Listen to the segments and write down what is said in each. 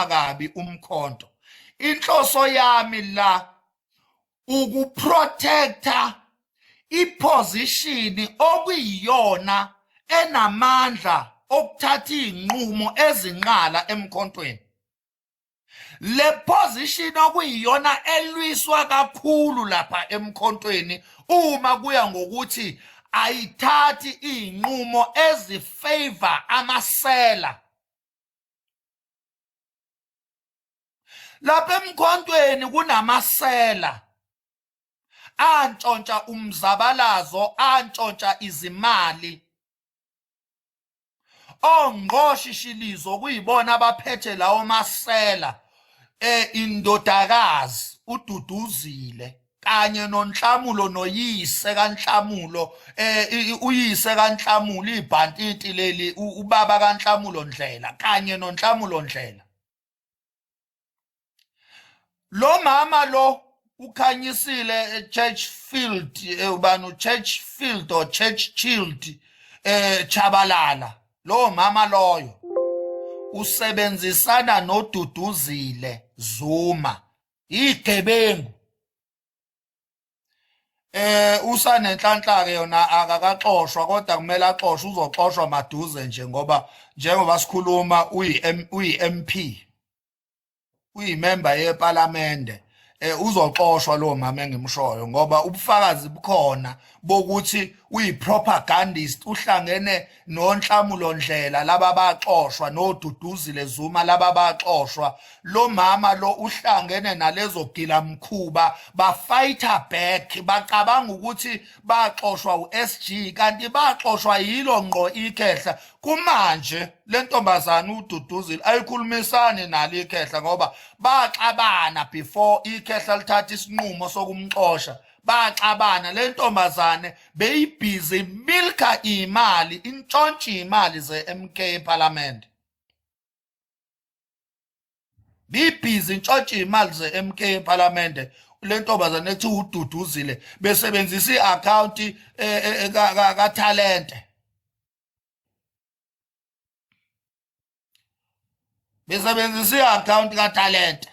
uwukhuluma kabi umkhonto inhloso yami la ukuprotector iposition okuyiyona enamandla okuthatha izinqumo ezinqala emkhontweni le position okuyiyona elwiswa kakhulu lapha emkhontweni uma kuya ngokuthi ayithathi izinqumo ezifavor amasela lapha emkhontweni kunamasela antshontsha umzabalazo antshontsha izimali ongqoshishilizo kuyibona abaphethe lawo masela eh indodakazi ududuzile kanye nonhlamulo noyise kanhlamulo eh uyise kanhlamulo ibhantiti leli ubaba kanhlamulo ndlela kanye nonhlamulo ndlela lo mama lo ukhanyisile eh, church field eh, ubani church field or church child eh chabalala lo mama loyo usebenzisana noduduzile zuma yigebengu eh usanenhlanhla ke yona akakaxoshwa kodwa kumele axoshwe uzoxoshwa maduze nje ngoba njengoba sikhuluma uyi uyi MP uyi member yeParliament eh uzoxoshwa lo mama engimshoyo ngoba ubufakazi bukhona bokuthi uyi propagandist uhlangene nonhlamulondlela laba baxoshwa noduduzile Zuma laba baxoshwa lo mama lo uhlangene nalezo gila mkhuba ba fighter back bacabanga ukuthi baxoshwa uSG kanti baxoshwa yilo ngqo ikhehla kumanje lentombazana ududuzile ayikhulumisani nalo ikhehla ngoba baxabana before ikhehla lithatha isinqumo sokumxosha baxabana le ntombazane beyibhizi milka imali intshontshe imali ze-mk parliament bibhizi intshontshe imali ze-mk parliament le ntombazane ethi ududuzile besebenzisa i-akhawunti eh, eh, eh, kathalente besebenzisa i-akhawunti katalente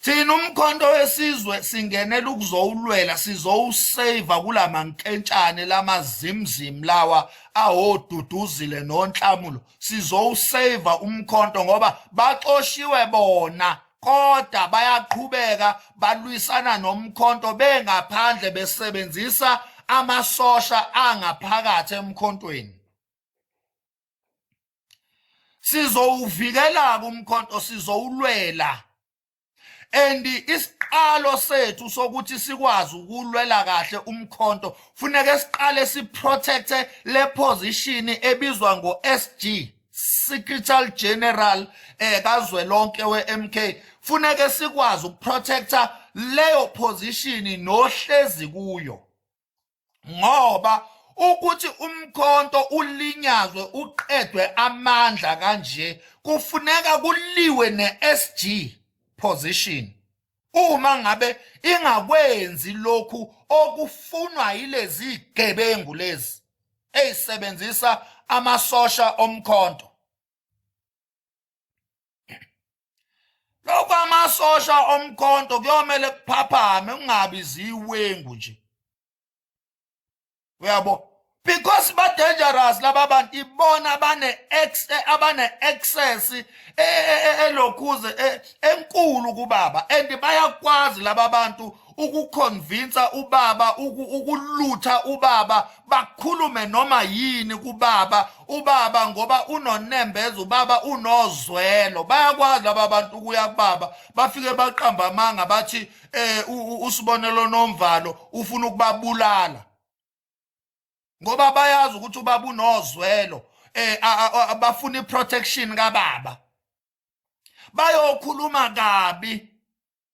thina umkhonto wesizwe singenela ukuzowulwela sizowuseva kula mankentshane lamazimzim lawa awoduduzile nonhlamulo sizowuseva umkhonto ngoba baxoshiwe bona kodwa bayaqhubeka balwisana nomkhonto bengaphandle besebenzisa amasosha angaphakathi emkhontweni sizowuvikela kumkhonto sizowulwela and isiqalo sethu sokuthi sikwazi ukulwela kahle umkhonto funeke siqale siprotecte le position ebizwa ngo-SG Secretary General eh kazwelonke weMK funeke sikwazi ukuprotecta leyo position nohlezi kuyo ngoba ukuthi umkhonto ulinyazwe uqedwe amandla kanje kufuneka kuliwe neSG position uma ngabe ingakwenzi lokhu okufunwa yilezi gebengu lezi eyisebenzisa amasosha omkhonto lokho amasosha omkhonto kuyomele kuphaphame kungabi ziwengu nje uyabo because ba dangerous laba bantu ibona bane ex eh, abane access eh, eh, elokhuze enkulu kubaba and bayakwazi laba bantu ukukhonvinsa ubaba ukulutha ubaba bakhulume noma yini kubaba ubaba ngoba unonembeza ubaba unozwelo bayakwazi laba bantu ukuya kubaba bafike baqamba amanga bathi eh usibonelo nomvalo ufuna ukubabulala ngoba bayazi ukuthi ubaba unozwelo eh bafuna iprotection kababa bayokhuluma kabi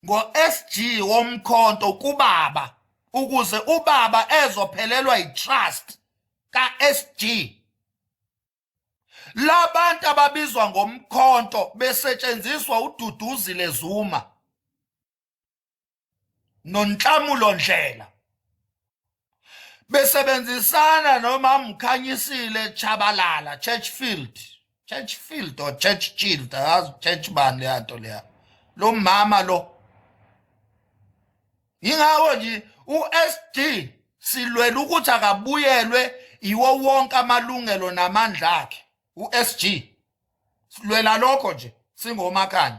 ngo-SG womkhonto kubaba ukuze ubaba ezophelelwa yitrust kaSG labantu ababizwa ngomkhonto besetshenziswa ududuzile Zuma nonhlamulo ndlela besebenzisana nomamkhanyisile chabalala churchfield churchfield or churchchild azi church bani leya nto leya lo mama lo yingawo nje u-sd silwela ukuthi akabuyelwe iwo wonke amalungelo namandla akhe u-sg silwela lokho nje singomakanye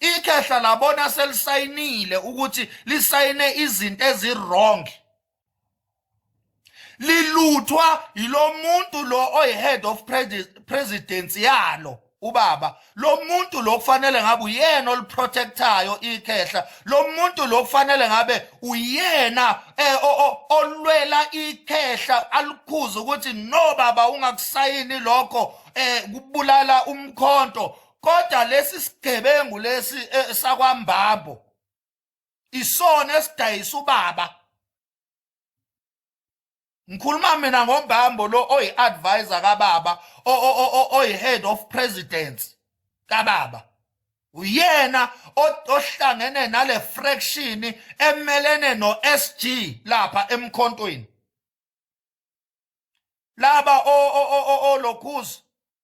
ikhehla labona selisayinile ukuthi lisayine izinto ezirong liluthwa yilo muntu lo oyi-head of presidency yalo ubaba lo muntu lo kufanele ngabe uyena oliprotectayo ikhehla lo muntu lo kufanele ngabe uyena eh, olwela ikhehla alikhuza ukuthi no baba ungakusayini lokho eh kubulala umkhonto kodwa lesi sigebengu lesi eh, sakwambambo isona esidayisa ubaba ngikhuluma mina ngombambo lo oyi-advisor kababa oyi-head of presidents kababa uyena ohlangene nale fraction emelene no-sg lapha emkhontweni laba olokhuzi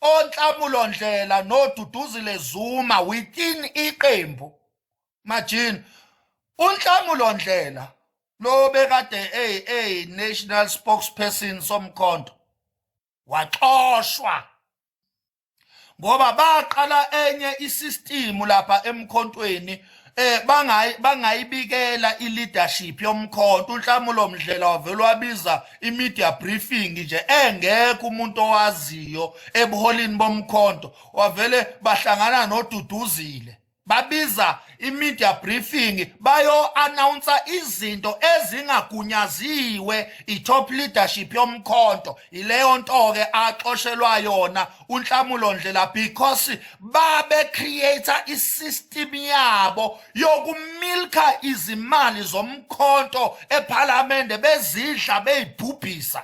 onhlamulo ndlela noduduzile zuma within iqembu majini unhlamulo ndlela lo bekade ey ey national spokesperson somkhonto waxoshwa ngoba baqala enye isistimu lapha emkhontweni eh bangayi bangayibikela ileadership yomkhonto unhlamulo mdlela wavela wabiza imedia briefing nje engekho umuntu owaziyo ebuholini bomkhonto wavele bahlangana noduduzile babiza imedia briefing bayo announce izinto ezingagunyaziwe itop leadership yomkhonto ileyo nto ke axoshelwa yona unhlamulo ndlela because babe creator isystem yabo yokumilka izimali zomkhonto ephalamende bezidla beyibhubhisa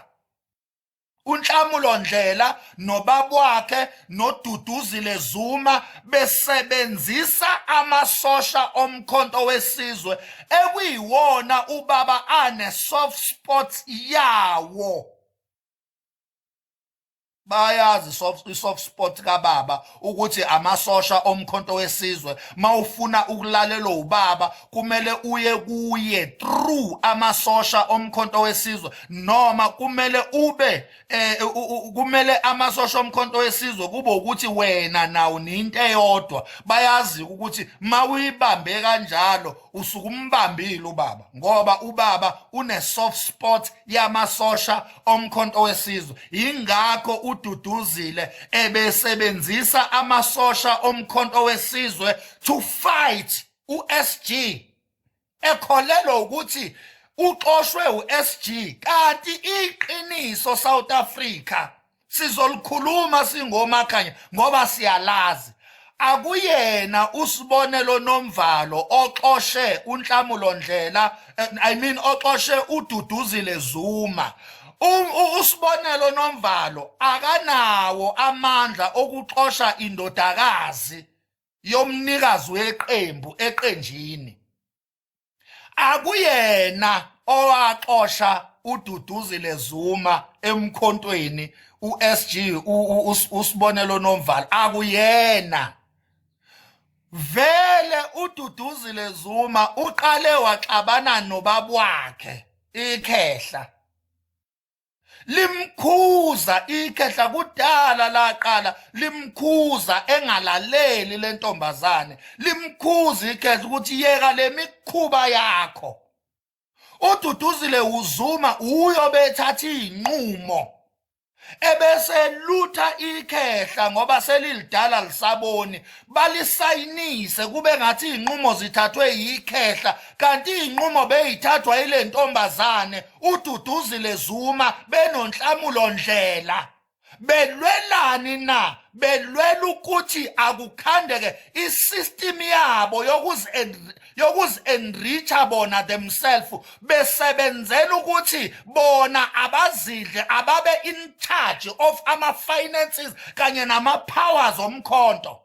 unhlamulo ndlela nobabwakhe noduduzile zuma besebenzisa amasosha omkhonto wesizwe ekuyiwona ubaba ane soft spots yawo bayazi i-soft spot kababa ukuthi amasosha omkhonto wesizwe mawufuna ukulalelwa ubaba kumele uye kuye through amasosha omkhonto wesizwe noma kumele ube eh, kumele amasosha omkhonto wesizwe kube ukuthi wena nawo ninto eyodwa bayazi ukuthi mawuyibambe kanjalo usukumbambile ubaba ngoba ubaba une soft spot yamasosha omkhonto wesizwe yingakho ududuzile ebesebenzisa amasosha omkhonto wesizwe to fight uSG ekholelwa ukuthi uxoshwe uSG kanti iqiniso South Africa sizolikhuluma singomakhanya ngoba siyalazi akuyena usibonelo nomvalo oxoshe unhlamulo ndlela eh, i mean oxoshe ududuzile zuma usibonelo nomvalo akanawo amandla okuxosha indodakazi yomnikazi weqembu eqenjini akuyena owaxosha ududuzile Zuma emkhontweni uSG usibonelo nomvalo akuyena vele ududuzile Zuma uqale waxabana nobabwakhe ikhehla limkhuza ikhehla kudala laqala limkhuza engalaleli lentombazane limkhuza ikhehla ukuthi yeka lemikhuba yakho ududuzile uzuma uyo bethatha izinqumo ebese lutha ikhehla ngoba selilidala lisaboni balisayinise kube ngathi izinqumo zithathwe yikhehla kanti izinqumo beyithathwa ilentombazane ududuzile Zuma benonhlamulo ndlela belwelani na belwela ukuthi akukhandeke isystem yabo yokuzi yokuzi enricha bona themselves besebenzela ukuthi bona abazidle ababe in charge of ama finances kanye nama powers omkhonto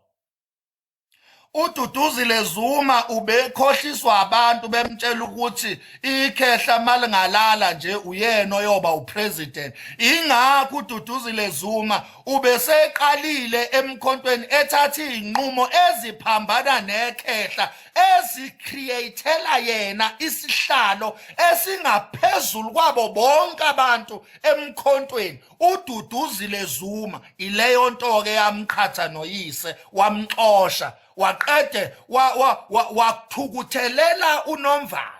ududuzile zuma ubekhohliswa abantu bemtshela ukuthi ikhehla malingalala nje uyena oyoba upresident ingakho ududuzile zuma ubeseqalile emkhontweni ethatha izinqumo eziphambana nekhehla ezicreatela yena isihlalo esingaphezulu kwabo bonke abantu emkhontweni ududuzile Zuma ileyo nto ke yamqhatha noyise wamxosha waqede wakuthukuthelela wa, wa, unomvalo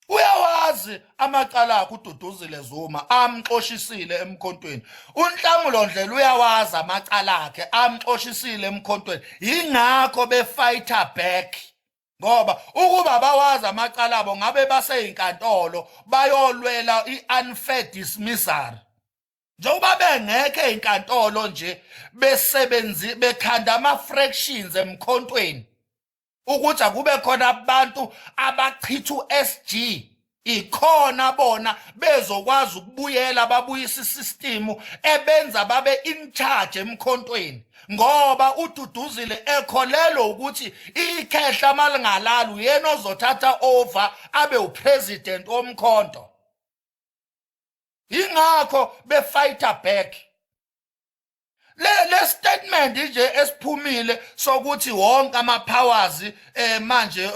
uyawazi amacala akhe ududuzile Zuma amxoshisile emkhontweni unhlamulo ndlela uyawazi amacala akhe amxoshisile emkhontweni ingakho befighter back ngoba ukuba bawazi amacala abo ngabe baseyinkantolo bayolwela i-unfair dismissal njengoba bengekho ezinkantolo nje besebenzi bekhanda ama-fractions emkhontweni ukuthi akube khona abantu abachitha u-sg ikhona bona bezokwazi ukubuyela babuyisa isistimu ebenza babe in charge emkhontweni ngoba ududuzile ekholelwa ukuthi ikhehla malingalali uyena ozothatha over abe upresident omkhonto ingakho befighter back le statement nje esiphumile sokuthi wonke ama powers eh manje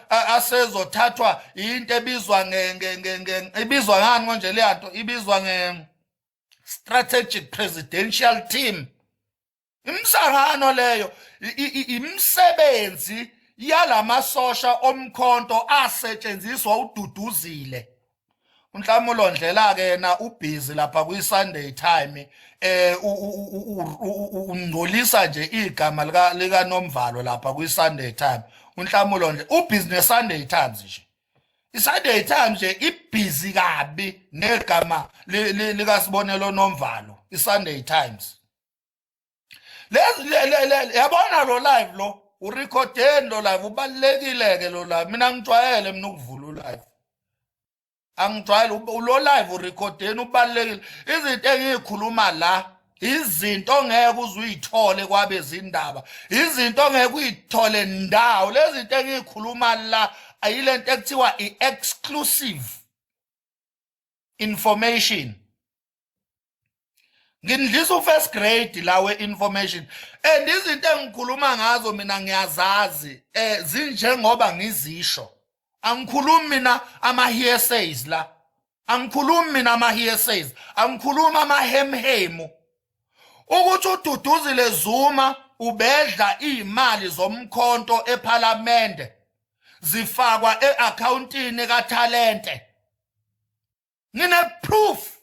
asezothathwa into ebizwa nge ibizwa ngani konje le nto ibizwa nge strategic presidential team imsangano leyo imisebenzi yalamasosha omkhonto asetshenziswa ududuzile unhlamulo ndlela ke yena ubhizi lapha kwi Sunday time eh ungcolisa nje igama lika lika Nomvalo lapha kwi Sunday time unhlamulo nje ubhizi ne Sunday times nje i Sunday times nje ibhizi kabi negama lika Sibonelo Nomvalo i Sunday times yabona lo live lo urecordeni lo live ubalulekile-ke lo live mina ngijwayele mina ukuvula ulive angijwayele lo live urecordeni ubalulekile izinto engiyikhuluma la izinto ongeke uzuyithole kwabezindaba izinto ongeke uyithole ndawo lezi zinto engiyikhuluma la ayilento ekuthiwa i-exclusive information ngindlisa u-first grade la we-information and izinto engikhuluma ngazo mina ngiyazazi um zinjengoba ngizisho angikhulumi mina ama-hearsays la angikhulumi mina ama-hearsays angikhulumi amahemhemu ukuthi ududuzile zuma ubedla iy'mali zomkhonto ephalamende zifakwa e-akhawuntini kathalente ngineproof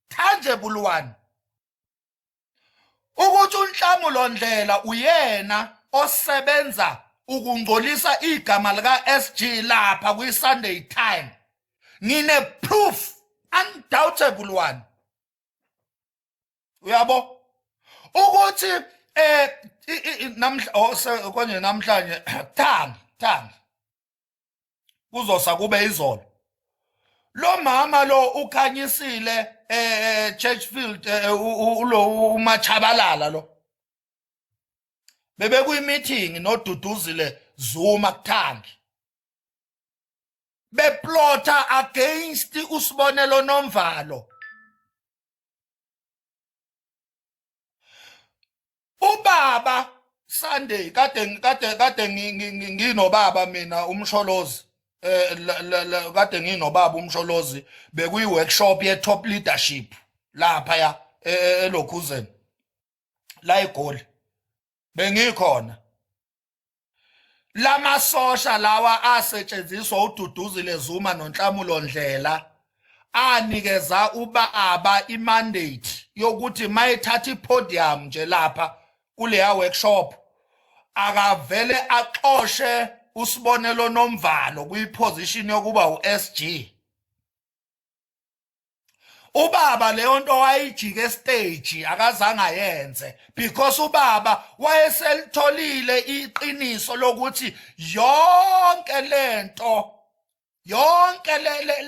tangible one ukuthi unhlamu londlela uyena osebenza ukungcolisa igama lika SG lapha kwi Sunday time ngine proof undoubtable one uyabo ukuthi eh namhla oh, konje namhlanje thangi thangi kuzosa kube izolo lo mama lo ukhanyisile eh, eh Churchfield eh, ulo umachabalala lo bebe kuyi meeting noduduzile Zuma kuthangi beplota against usibonelo nomvalo ubaba Sunday kade kade kade nginobaba mina umsholozi eh kade nginobaba umsholozi bekuyi workshop ye top leadership lapha ya e, e, elokhuzeni la egoli bengikhona lamasosha lawa asetshenziswa ududuzile Zuma nonhlamulo Ndlela anikeza ubaba imandate yokuthi mayethatha ipodium nje lapha kuleya workshop akavele axoshe usibonelo nomvalo kuyiposition yokuba uSG ubaba leyo nto wayijika estage akazange ayenze because ubaba wayeselitholile iqiniso lokuthi yonke lento yonke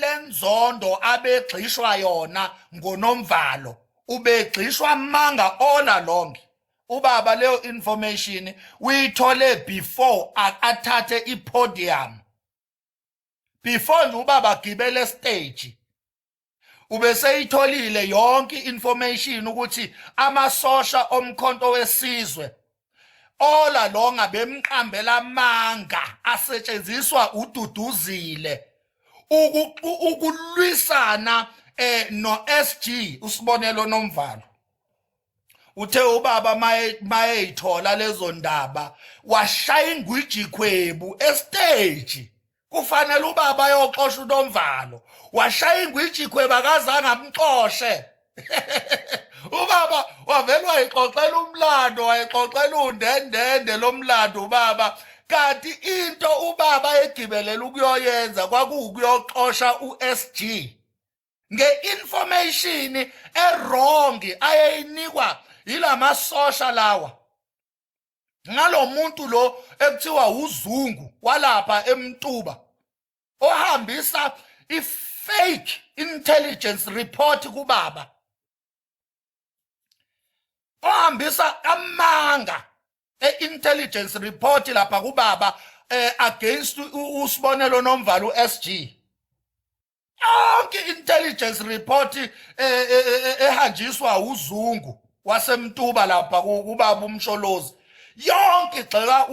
lenzondo abegxishwa yona ngonomvalo ubegxishwa manga all along ubaba leyo information uyithole before athathe ipodium before nje ubaba agibele stage ubeseyitholile yonke information ukuthi amasosha omkhonto wesizwe ola longa bemqambela amanga asetshenziswa ududuzile ukulwisana eh no SG usibonelo nomvalo uthe ubaba mayeyithola lezo ndaba washaya ingwijikhwebu esteji kufanele ubaba ayoxosha unomvalo washaya ingwijikhwebu akazange amxoshe ubaba wavele wayixoxela umlando wayixoxela undendende lo mlando ubaba kanti into ubaba egibelela ukuyoyenza kwakuwukuyoxosha u-sg nge-information ewrong ayeyinikwa yilamasosha lawa ngalomuntu lo ekuthiwa uzungu walapha emtuba ohambisa ifake intelligence report kubaba ohambisa amanga e-intelligence report lapha kubaba eh against usibonelo nomvalo uSG yonke intelligence report eh, eh, eh, ehanjiswa uzungu wasemtuba lapha kubaba umsholozi yonke igxeka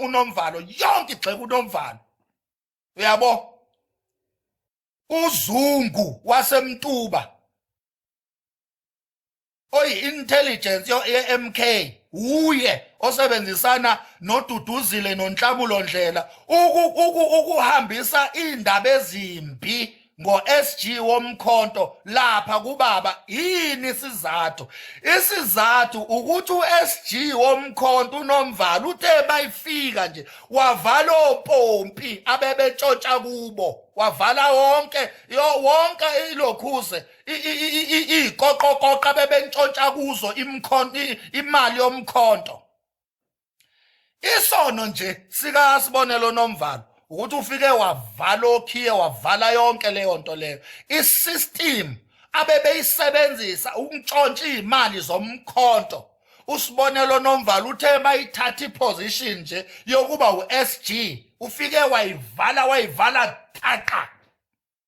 unomvalo yonke igxeka unomvalo uyabo uzungu wasemtuba oyi-intelligence ye-MK wuye osebenzisana noDuduzile noNhlabulo Ndlela ukuhambisa indaba ezimbi ngo-SG womkhonto lapha kubaba yini isizathu isizathu ukuthi u-SG womkhonto unomvalo uthe bayifika nje wavala opompi abebetshotsha kubo wavala wonke wonke ilokhuze iy'koqokoqa bebentshontsha kuzo imali yomkhonto isono nje sikasibonelo nomvalo ukuthi ufike wavala okhiye wavala yonke leyo nto leyo isystem abebeyisebenzisa ukuntshontsha iy'mali zomkhonto usibonelo nomvalo uthe bayithatha iposition nje yokuba u-sg ufike wayivala wayivala thaqa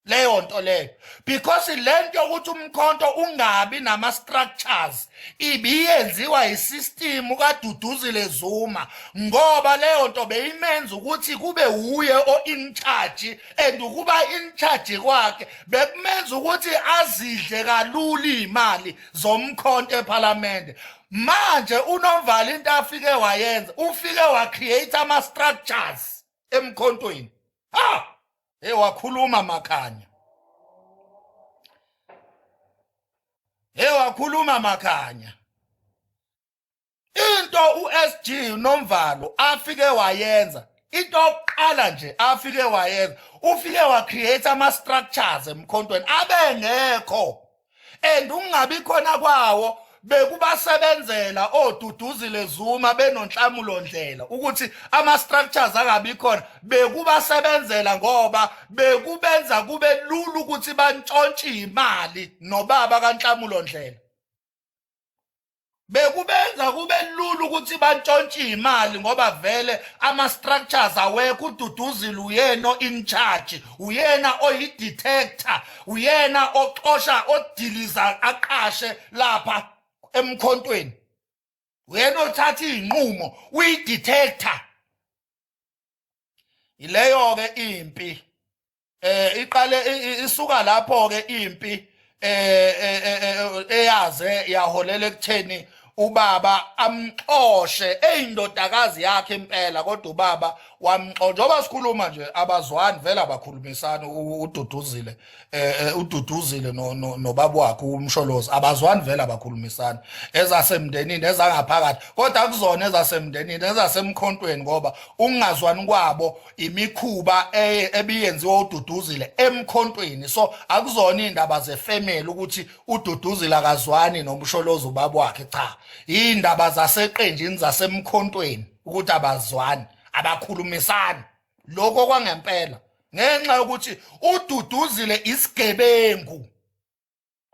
leyo nto leyo because le nto yokuthi umkhonto ungabi nama-structures ibiyenziwa yisistimu kaduduzile zuma ngoba leyo nto beyimenza ukuthi kube wuye o-incharge and ukuba incharge kwakhe bekumenza ukuthi azidle kalula iy'mali zomkhonto ephalamende manje unomvala into afike wayenza ufike wacreate ama-structures emkhontweni ha hey wakhuluma makhanya hey wakhuluma makhanya into uSG nomvalo afike wayenza into oqala nje afike wayenza ufike wa create ama structures emkhontweni abengekho and ukungabi khona kwawo bekubasebenzela oduduzile Zuma benonhlamulo ndlela ukuthi ama structures angabi khona bekubasebenzela ngoba bekubenza kube lulu ukuthi bantshontshe imali nobaba kanhlamulo ndlela bekubenza kube lula ukuthi bantshontshe imali ngoba vele ama structures awekho ududuzile uyena in charge uyena oyi detector uyena oxosha odiliza aqashe lapha emkhontweni uyena othatha izinqumo uyi detector ileyo ke impi eh iqale isuka lapho ke impi eh, eh, eh, eh eyaze yaholela ekutheni ubaba amxoshe eyindodakazi yakhe impela kodwa ubaba wamxosha njengoba sikhuluma nje abazwani vele abakhulumisana ududuzile eh ududuzile no nobaba wakhe umsholozi abazwani vele abakhulumisana ezasemndenini ezangaphakathi kodwa kuzona ezasemndenini ezasemkhontweni ngoba ukungazwani kwabo imikhuba e, ebiyenziwa ududuzile emkhontweni so akuzona indaba zefamily ukuthi ududuzile akazwani nomsholozi ubaba wakhe cha indaba zaseqenjini zasemkhontweni ukuthi abazwani abakhulumisani lokho kwangempela ngenxa yokuthi ududuzile isigebengu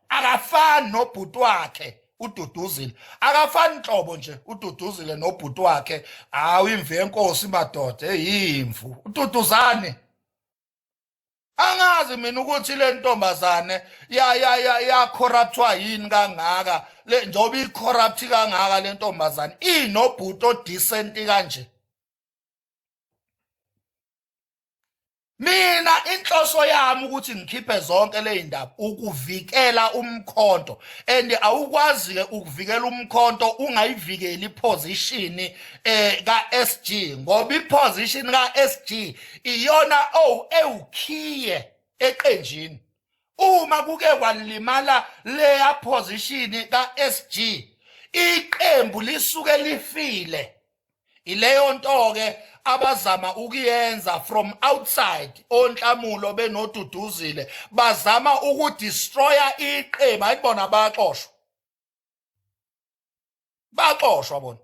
akafani nobhuti wakhe ududuzile akafani nhlobo nje ududuzile nobhuti wakhe hawu imvu yenkosi madoda eyimvu ududuzane angazi mina ukuthi le ntombazane ya ya ya ya corruptwa yini kangaka le njoba i corrupt kangaka le ntombazane inobhuti o decent kanje mina inhloso yami ukuthi ngikhiphe zonke ley'ndaba ukuvikela umkhonto and awukwazi-ke ukuvikela umkhonto ungayivikeli iphozishini um eh, ka-s g ngoba iphozishini ka-s g iyona owu ewukhiye eqenjini uma kuke kwalimala leya phozishini ka-s g iqembu lisuke lifile ileyo nto ke abazama ukuyenza from outside onhlamulo benoduduzile bazama ukudestroya iqembu ayibona baxoshwa baxoshwa bona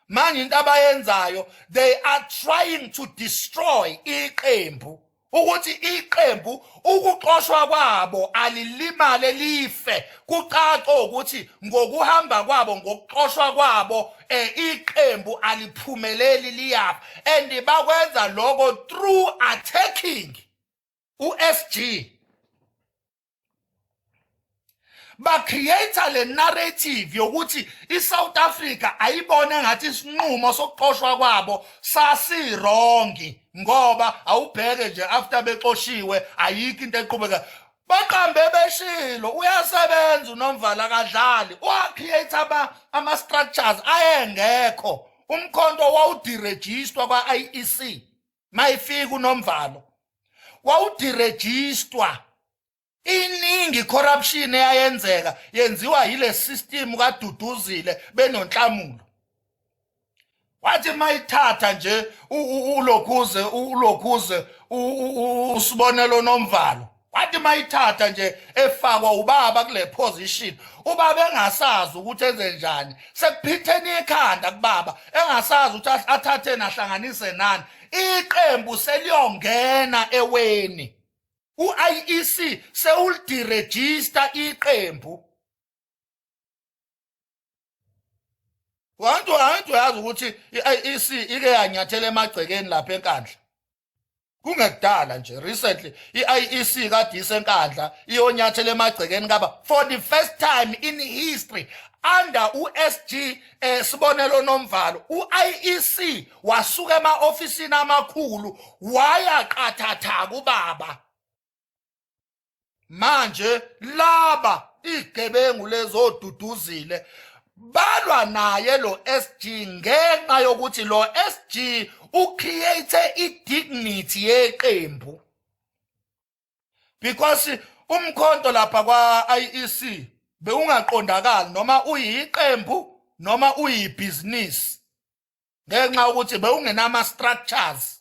manje into abayenzayo they are trying to destroy iqembu ukuthi iqembu ukuxoshwa kwabo alilimale life kucaca ukuthi ngokuhamba kwabo ngokuxoshwa kwabo eh iqembu aliphumeleli liyapha and bakwenza lokho through attacking uSG bacreate le narrative yokuthi iSouth Africa ayibone ngathi isinqumo sokuxoshwa kwabo sasirongi ngoba awubheke nje after bexoshiwe ayikho into eqhubeka baqambe beshilo uyasebenza unomvala kadlali uacreate ama ama structures ayengekho umkhonto wawudirejistwa kwa IEC mayifika unomvalo wawudirejistwa iningi corruption eyayenzeka yenziwa yile system kaduduzile benonhlamulo wathi mayithatha nje ulokhuze ulokhuze usibonelo nomvalo wathi mayithatha nje efakwa ubaba kule position ubaba engasazi ukuthi enze njani sekuphitheni ikhanda kubaba engasazi ukuthi athathe nahlanganise nani iqembu seliyongena eweni u-IEC sewulidirejista iqembu wantu wantu yazi ukuthi i-IEC ike yanyathela emagcekeni lapha enkandla kungekudala nje recently i-IEC kade isenkandla iyonyathela emagcekeni kaba for the first time in history under uSG eh sibonelo nomvalo uIEC wasuka emaofisini amakhulu waya qathatha kubaba manje laba igebengu lezoduduzile balwa naye lo SG ngenxa yokuthi lo SG ucreate idignity yeqembu because umkhonto lapha kwa IEC bewungaqondakali noma uyiqembu noma uyibhizinisi ngenxa ukuthi bewungenama structures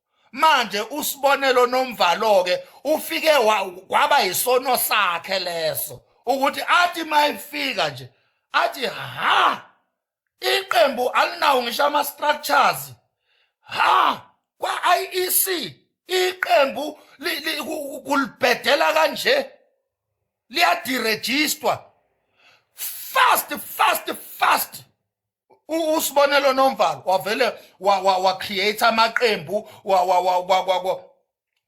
manje usibonelo nomvalo ke ufike kwaba yisono sakhe leso ukuthi athi mayifika nje athi ha iqembu alinawo ngisho ama structures ha kwa IEC iqembu kulibhedela kanje liyadirejistwa fast fast fast usibonelo nomvalo wavele wa-create amaqembu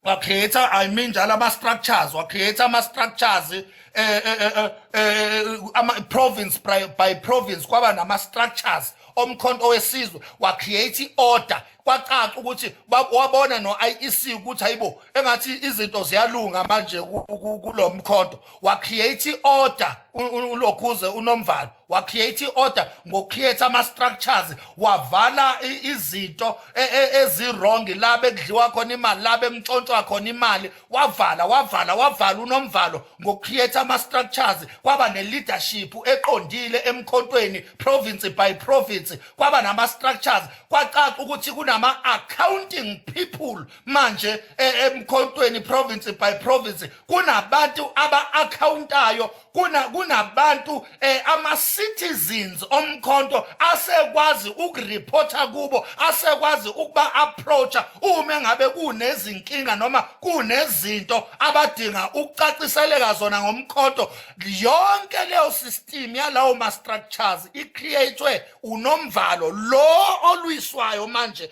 wa-create i mean njalo ama-structures wa-create ama-structures eh, eh, eh, province by province kwaba nama-structures omkhonto wesizwe wa-create i-order kwacaca ukuthi wabona no-iec ukuthi hayibo engathi izinto ziyalunga manje kulo mkhonto wa-create i-order ulokhuze unomvalo wacreate i-order ngocreate ama-structures wavala izinto e, e, ezi-wrong la bekudliwa khona imali la bekuntshontshwa khona imali wavala wavala wavala unomvalo ngocreate ama-structures kwaba ne-leadership eqondile emkhontweni province by province kwaba nama-structures kwacaca ukuthi kunama-accounting people manje e, emkhontweni province by province kunabantu aba-akhawuntayo kunabantu eh, ama-citizens omkhonto asekwazi ukureporta kubo asekwazi ukuba-approacha uma ngabe kunezinkinga noma kunezinto abadinga ukucaciseleka zona ngomkhonto yonke leyo system yalawo ma-structures i-creatwe unomvalo lo olwiswayo manje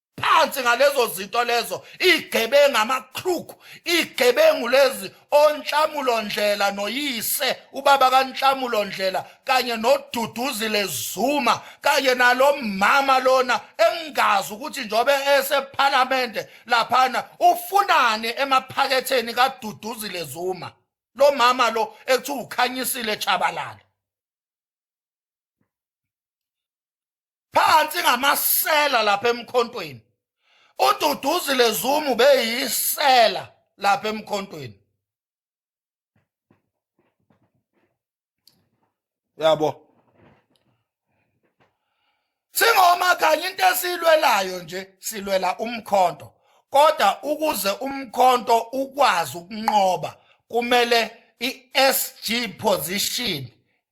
phansi ngalezo zinto lezo igebengu amakruku igebengu lezi onhlamulo ndlela noyise ubaba kanhlamulo ndlela kanye noduduzile zuma kanye nalomama lona engazi ukuthi njobe esephalamende laphana ufunani emaphaketheni kaduduzile zuma lo mama lo ekuthiwa ukhanyisile chabalala phansi ngamasela lapha emkhontweni ududuzile zumu beyisela lapha emkhontweni yabo singoma kanye into esilwelayo nje silwela umkhonto kodwa ukuze umkhonto ukwazi ukunqoba kumele i-SG position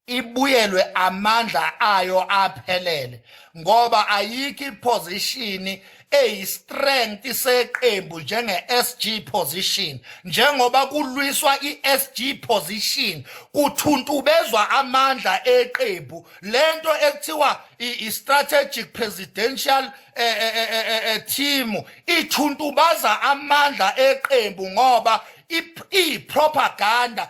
ibuyelwe amandla ayo aphelele ngoba ayikho iposition eyistrength seqembu njenge-SG position njengoba kulwiswa i-SG position kuthuntubezwa amandla eqembu lento ekuthiwa i-strategic presidential eh, eh, eh, team ithuntubaza amandla eqembu ngoba ipropaganda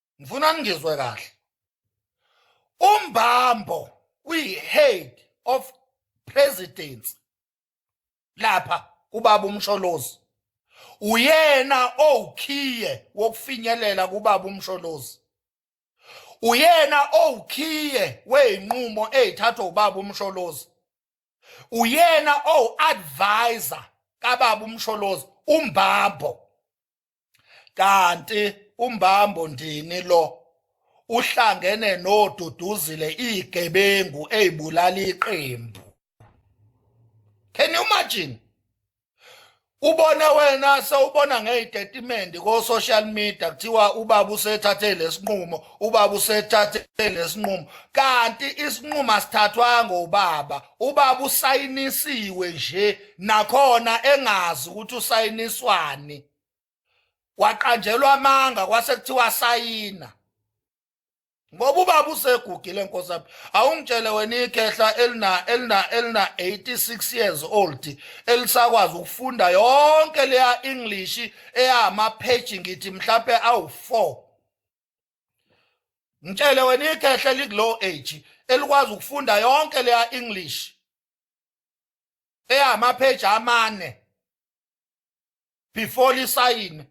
ngifuna ngizwe kahle umbambo uyi-head of presidency lapha kubaba umsholozi uyena owukhiye wokufinyelela kubaba umsholozi uyena owukhiye wezinqumo ezithathwa ubaba umsholozi uyena owu-advisor kababa umsholozi umbambo kanti umbambo ndini lo uhlangene noduduzile igebengu ezibulala iqembu can you imagine ubone wena sewubona ngezitatimende ko social media kuthiwa ubaba usethathe lesinqumo ubaba usethathe lesinqumo kanti isinqumo asithathwanga ubaba ubaba usayinisiwe nje nakhona engazi ukuthi usayiniswani waqanjelwa amanga kwase kuthiwa sayina ngoba ubaba usegugile nkosi yami awungitshele wena ikhehla elina elina elina 86 years old elisakwazi ukufunda yonke leya english eyama page ngithi mhlawumbe awu 4 ngitshele wena ikhehla likulow age elikwazi ukufunda yonke leya english eyamapheji amane before lisayine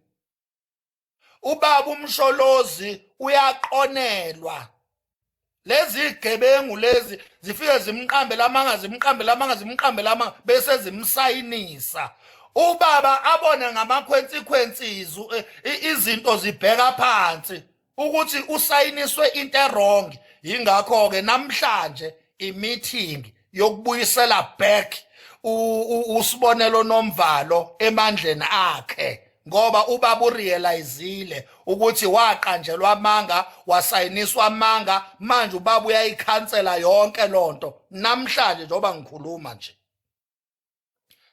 ubaba umsholozi uyaqonelwa lezi gebengu lezi zifike zimqambe lamanga zimqambe lamanga zimqambe lamanga bese zimsayinisa ubaba abone ngamakhwensikhwensi eh, izinto zibheka phansi ukuthi usayiniswe into erong yingakho-ke namhlanje imithingi yokubuyisela back usibonelo nomvalo emandleni akhe ngoba ubaba urealizile ukuthi waqanjelwa amanga wasayiniswa amanga manje ubaba uyayikhansela yonke lonto namhlanje njengoba ngikhuluma nje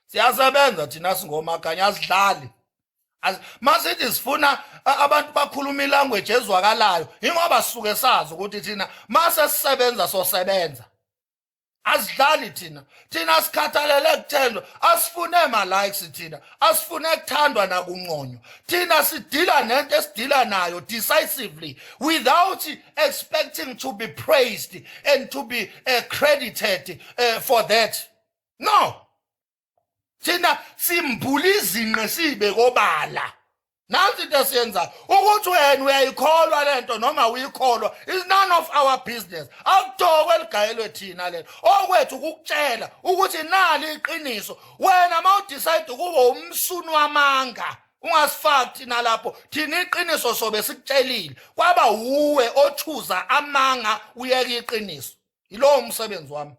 siyasebenza thina singomaganya asidlali masithi sifuna abantu bakhuluma ilanguage ezwakalayo ingoba sisuke sazi ukuthi thina mase sisebenza sosebenza asidlali thina thina sikhathalele kuthendwa asifune ma-likes thina asifune kuthandwa nakunconywa thina sidila nento esidila nayo decisively without expecting to be praised and to be uh, credited uh, for that no thina simbula izinqe sibe kobala nansi into esiyenzayo ukuthi wena uyayikholwa le nto noma uyikholwa is none of our business akutokwe ligayelwe thina lelo okwethu ukukutshela ukuthi nali iqiniso wena uma udicide ukuba umsuni wamanga ungasifaki thina lapho thina iqiniso sobe sikutshelile kwaba wuwe othuza amanga uyeka iqiniso yilowo umsebenzi wami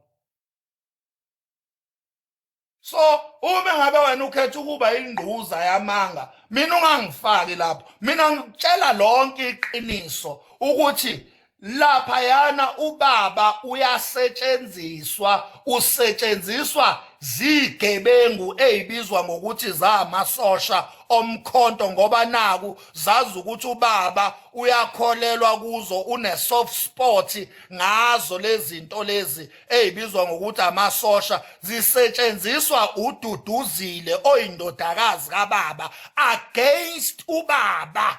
so uma ngabe wena ukhetha ukuba ingquza yamanga mina ungangifaki lapho mina ngikutshela lonke iqiniso ukuthi lapha yana ubaba uyasetshenziswa usetshenziswa zigebengu ezibizwa ngokuthi zamasosha omkhonto ngoba naku zazi ukuthi ubaba uyakholelwa kuzo une soft spot ngazo lezi zinto lezi eyibizwa ngokuthi amasosha zisetshenziswa ududuzile oyindodakazi kababa against ubaba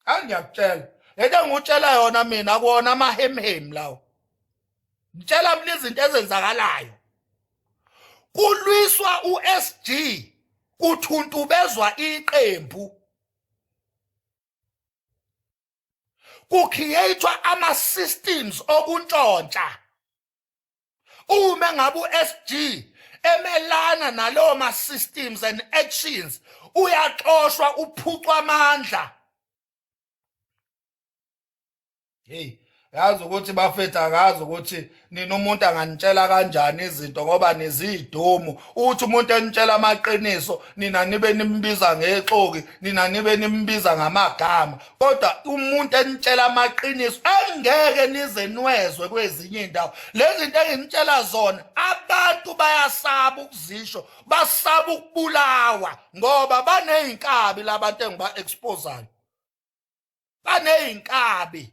angiyakutshela lento engikutshela yona mina kuwona amahemhemu lawo ngitshela mina izinto ezenzakalayo kulwiswa uSG kuthuntubezwa iqembu kucreatwa ama systems okuntshontsha uma ngabe uSG emelana nalowo ma systems and actions uyaxoshwa uphucwa amandla hey yazi ukuthi bafethu akazi ukuthi nina umuntu anganitshela kanjani izinto ngoba niziyidomu uthi umuntu enitshela amaqiniso nina nibe nimbiza ngexoki nina nibe nimbiza ngamagama kodwa umuntu enitshela amaqiniso angeke nize nwezwe kwezinye indawo lezi zinto enginitshela zona abantu bayasaba ukuzisho basaba ukubulawa ngoba baneyinkabi labantu engiba exposayo baneyinkabi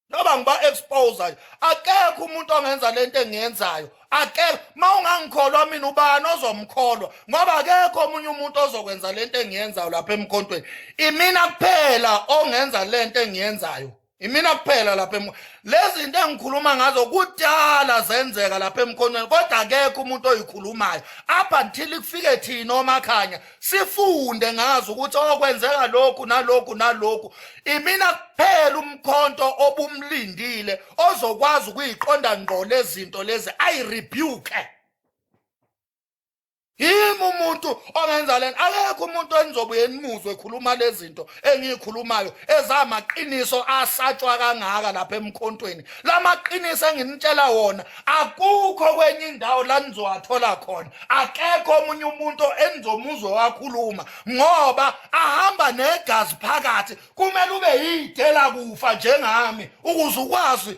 noba ngiba expose nje akekho umuntu ongenza lento engiyenzayo akekho mawungangikholwa mina ubani ozomkholwa ngoba akekho omunye umuntu ozokwenza lento engiyenzayo lapha emkhontweni imina kuphela ongenza lento engiyenzayo imina kuphela lapha em lezi zinto engikhuluma ngazo kudala zenzeka lapha emkhonweni kodwa akekho umuntu oyikhulumayo up until kufike thina omakhanya sifunde ngazo ukuthi okwenzeka lokhu nalokhu nalokhu imina kuphela umkhonto obumlindile ozokwazi ukuyiqonda ngqo lezinto lezi ayi rebuke yimi umuntu ongenza lena akekho umuntu enizobuye nimuzwe ekhuluma lezinto engiyikhulumayo ezamaqiniso asatshwa kangaka lapha emkhontweni lamaqiniso enginitshela wona akukho kwenye indawo la nizowathola khona akekho omunye umuntu enizomuzwe wakhuluma ngoba ahamba negazi phakathi kumele ube yidela kufa njengami ukuze ukwazi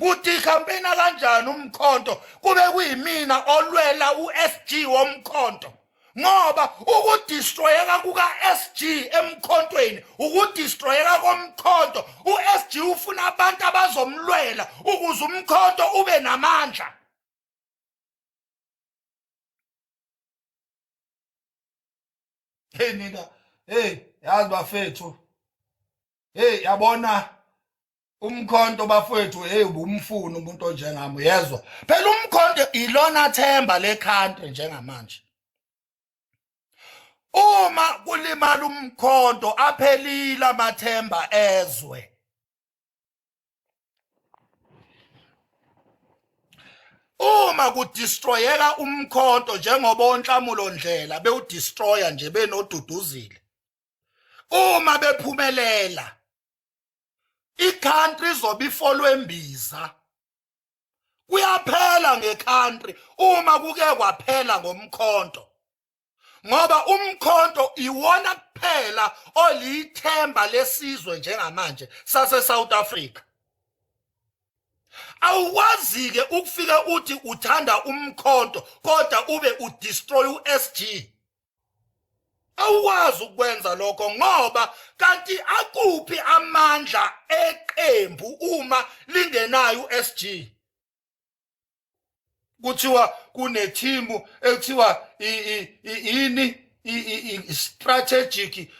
kuthi campaigna kanjani umkhonto kube kuyimina olwela uSG womkhonto ngoba ukudestroyeka kukaSG emkhontweni ukudestroyeka komkhonto uSG ufuna abantu abazomlwela ukuze umkhonto ube namandla Hey nina hey yazi bafethu hey yabona umkhonto bafowethu hey ubumfuni umuntu onjengami uyezwa phela umkhonto ilona themba le country njengamanje uma kulimala umkhonto aphelile amathemba ezwe uma kudestroyeka umkhonto njengoba onhlamulo ndlela bewudestroya nje benoduduzile uma bephumelela icountry izobe ifolwembiza kuyaphela ngecountry uma kuke kwaphela ngomkhonto ngoba umkhonto iwona kuphela oliyithemba lesizwe njengamanje sase South Africa awuwazi-ke ukufika uthi uthanda umkhonto kodwa ube udestroy u-sg awukwazi ukwenza lokho ngoba kanti akuphi amandla eqembu uma lingenayo uSG kuthiwa kunethimbu ekuthiwa yini i-strategic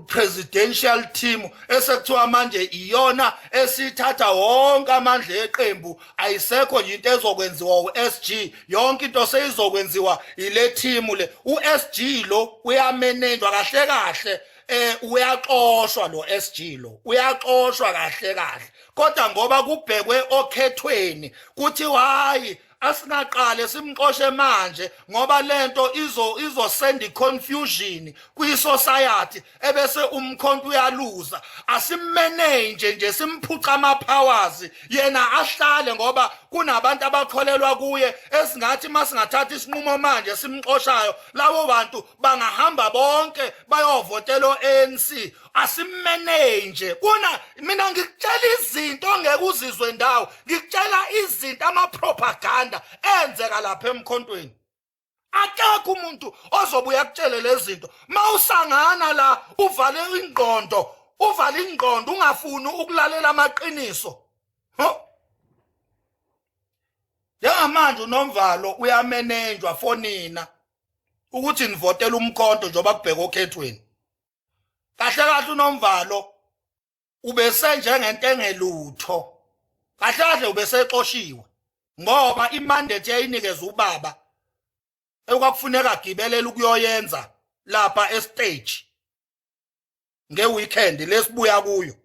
presidential team esekuthiwa manje iyona esithatha wonke amandla eqembu ayisekho nje into ezokwenziwa uSG yonke into seyizokwenziwa ile team le uSG lo uyamenenjwa kahle kahle eh uyaxoshwa lo SG lo uyaxoshwa kahle kahle kodwa ngoba kubhekwe okhethweni kuthi hayi asingaqale simxoshe manje ngoba lento izo izosenda iconfusion kwisociety ebese umkhonto uyaluza asimmanage nje simphuca ama powers yena ahlale ngoba kunabantu abakholelwa kuye esingathi masingathatha isinqumo manje simxoshayo labo bantu bangahamba bonke bayovotela ANC asimenei nje kuna mina ngikutshela izinto ongeke uzizwe ndawo ngikutshela izinto amapropaganda enzeka lapha emkhontweni akekho umuntu ozobuya kutshele lezinto mawusangana la uvale ingqondo uvale ingqondo ungafuni ukulalela amaqiniso njengamanje unomvalo uyamenenjwa fonina ukuthi nivotela umkhonto njengoba kubheka okhethweni kahle kahle unomvalo ubese njengento engelutho kahle kahle ubesexoshiwe ngoba imandate yayinikeza ubaba ekwakufuneka agibelele ukuyoyenza lapha estage ngeweekend lesibuya kuyo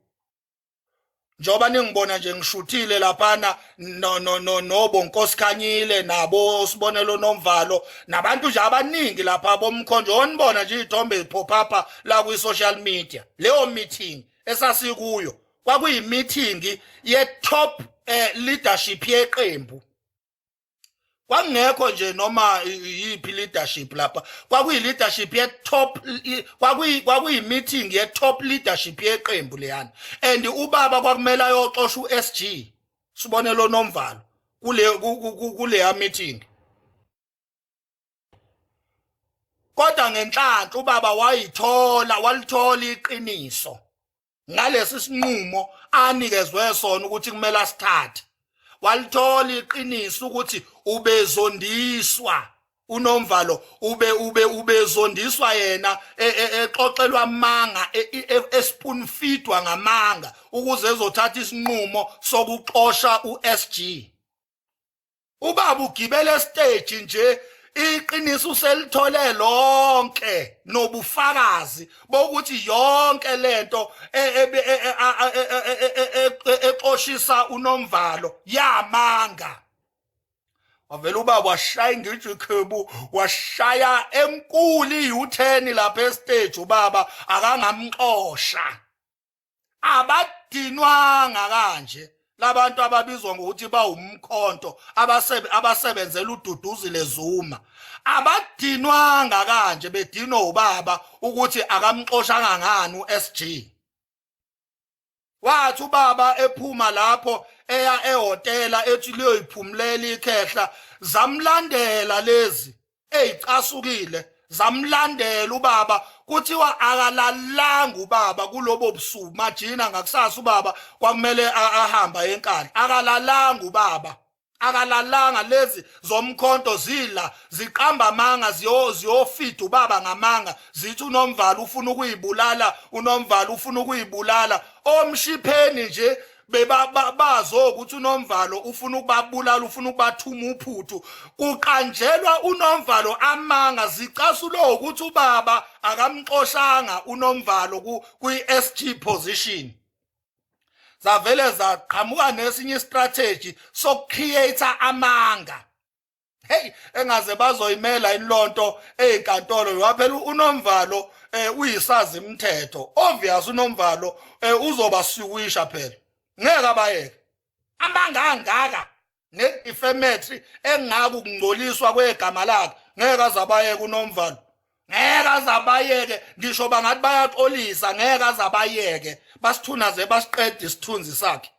njengoba ningibona nje ngishuthile laphana no no no nobo nkosikhanyile nabo sibonelo nomvalo nabantu nje abaningi lapha bomkhonjo onibona nje izithombe ziphopapa la kwi social media leyo meeting esasikuyo kwakuyi meeting ye top eh, leadership yeqembu kwakungekho nje noma yiphi leadership lapha kwakuyi leadership ye top kwakuyi kwakuyi meeting ye top leadership yeqembu leyana and ubaba kwakumele ayoxosha uSG sibone lo nomvalo kule kuleya meeting kodwa ngenhlanhla ubaba wayithola walithola iqiniso ngalesi sinqumo anikezwe sona ukuthi kumele asithathe walithola iqiniso ukuthi ubezondiswa unomvalo ube ube ubezondiswa yena e, e, exoxelwa amanga e, espoonfeedwa ngamanga ukuze ezothatha isinqumo sokuxosha uSG ubaba ugibele stage nje iqiniso uselithole lonke nobufakazi bokuthi yonke lento exoshisa unomvalo yamanga wavela ubaba washaya ingijwe ikhebu washaya enkulu i-u-ten lapha estage ubaba akangamxosha abadinwanga kanje labantu ababizwa ngokuthi bawumkhonto abasebe abasebenzela ududuzile Zuma abadinwanga kanje bedinwa ubaba ukuthi akamxoshanga ngani uSG wathi ubaba ephuma lapho eya ehotela ethi liyoyiphumulela ikhehla zamlandela lezi ezicasukile zamlandela ubaba kuthiwa akalalanga ubaba kulobo busuku majina ngakusasa ubaba kwakumele ahamba enkani akalalanga ubaba akalalanga lezi zomkhonto zila ziqamba amanga ziyofida ubaba ngamanga zithi unomvalo ufuna ukuyibulala unomvalo ufuna ukuyibulala omshipheni nje bebabazo ukuthi unomvalo ufuna ukubabulala ufuna ukubathuma uphuthu kuqanjelwa unomvalo amanga zicasulo ukuthi ubaba akamxoshanga unomvalo kwi-SG position zavele zaqhamuka nesinye istrategy sokucreate amanga hey engaze bazoyimela inlonto ezinkantolo ngoba phela unomvalo eh, uyisazi imithetho obvious unomvalo eh, uzobasiwisha phela ngeke abayeke amanga angaka ne-defamatory engaka ukungcoliswa kwegama lakhe ngeke azabayeke unomvalo ngeke azabayeke ngisho bangathi bayaxolisa ngeke azabayeke basithunaze basiqede isithunzi sakhe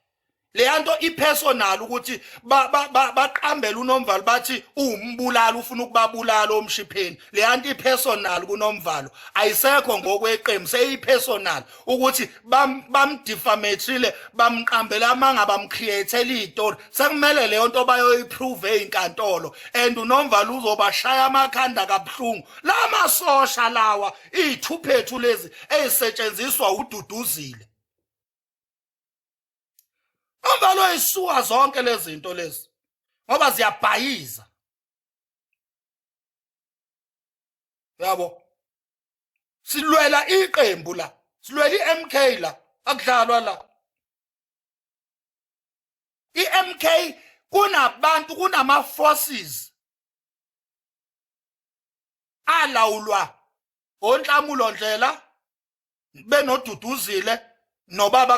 leyanto ipersonal ukuthi baqambela unomvalo bathi uwumbulala ufuna ukubabulala omshipheni leyanto ipersonal kunomvalo ayisekho ngokweqembu seyipersonal ukuthi bamdifametrile bamqambela amanga bamcreatela izitori sekumele leyo nto bayoyiprove ezinkantolo and unomvalo uzobashaya amakhanda kabuhlungu lamasosha lawa izithuphethu lezi ezisetshenziswa ududuzile Ambalo isuka zonke lezi zinto lezi ngoba ziyabhayiza. Yabo. Silwela iqembu la. Silwela iMK la. Akudlalwa la. IMK kunabantu kunama forces alawulwa onhlamulo ndlela benoduduzile nobaba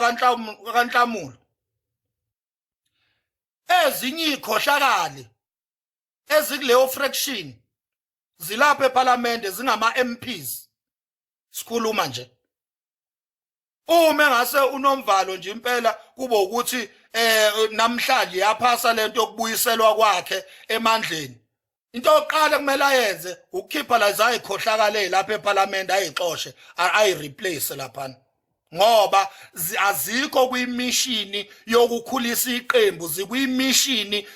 kanhlamulo ezinye ikhohlakali ezikuleyo fraction zilapha eParliament zingama MPs sikhuluma nje uma ngase unomvalo nje impela kube ukuthi eh namhlanje yaphasa lento yokubuyiselwa kwakhe emandleni into yokuqala kumele ayenze ukukhipha lazo ayikhohlakale lapha eParliament ayixoshe ayi replace laphana ngoba azikho kwimishini yokukhulisa iqembu zikwimishini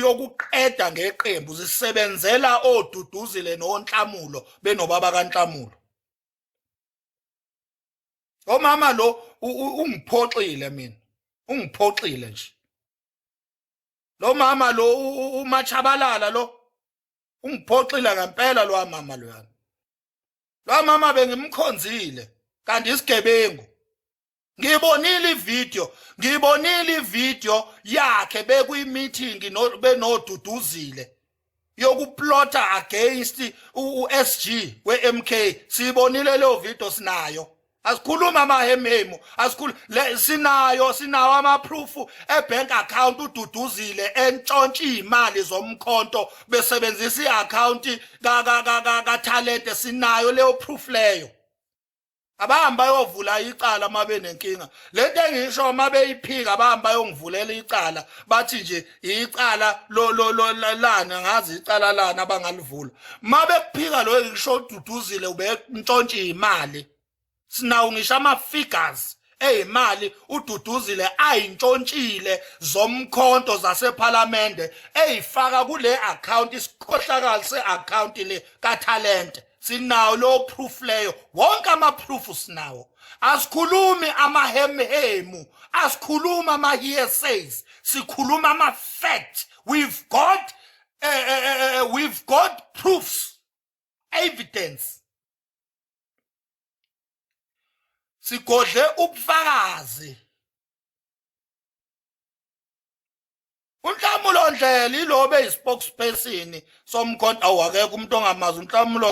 yokuqeda ngeqembu zisebenzela oduduzile nonhlamulo benobaba kanhlamulo omama lo ungiphoxile mina ungiphoxile nje lo mama lo umachabalala lo ungiphoxile ngempela lo mama lo yami lo mama bengimkhonzile kanti isigebengu ngibonile ivideo ngibonile ivideo yakhe bekuyimeeting benoduduzile yokuplota against uSG weMK sibonile leyo video sinayo asikhuluma amahemhemu asikhulu sinayo sinawo amaproof ebank account ududuzile entshontsha imali zomkhonto besebenzisa iaccount ka ka ka ka talent sinayo leyo proof leyo abahambe bayovula icala uma benenkinga le nto engisho uma beyiphika abahambe bayongivulela icala bathi nje icala lani angazi icala lani abangalivula uma bekuphika loyo ngisho ududuzile ubentshontshe imali sinawo ngisho ama-figures eyimali ududuzile ayintshontshile zomkhonto zasephalamende eyifaka kule account isikhohlakali se-account le kathalente sinawo lo proof leyo wonke ama proof sinawo asikhulumi ama hemhemu asikhulumi ama hearsays sikhuluma ama fact we've got uh, uh, uh, we've got proofs evidence sigodle ubufakazi unhlamulo ndlela ilo be spokesperson somkhonto awakekho umuntu ongamazi unhlamulo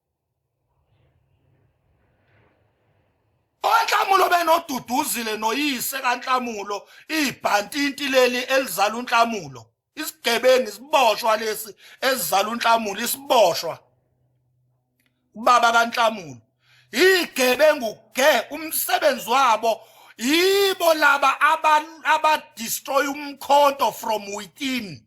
onhlamulo benoduduzile noyise kanhlamulo ibhantinti leli elizala unhlamulo isigebengu isiboshwa lesi esizala unhlamulo isiboshwa ubaba kanhlamulo igebengu ke umsebenzi wabo yibo laba aba destroy umkhonto from within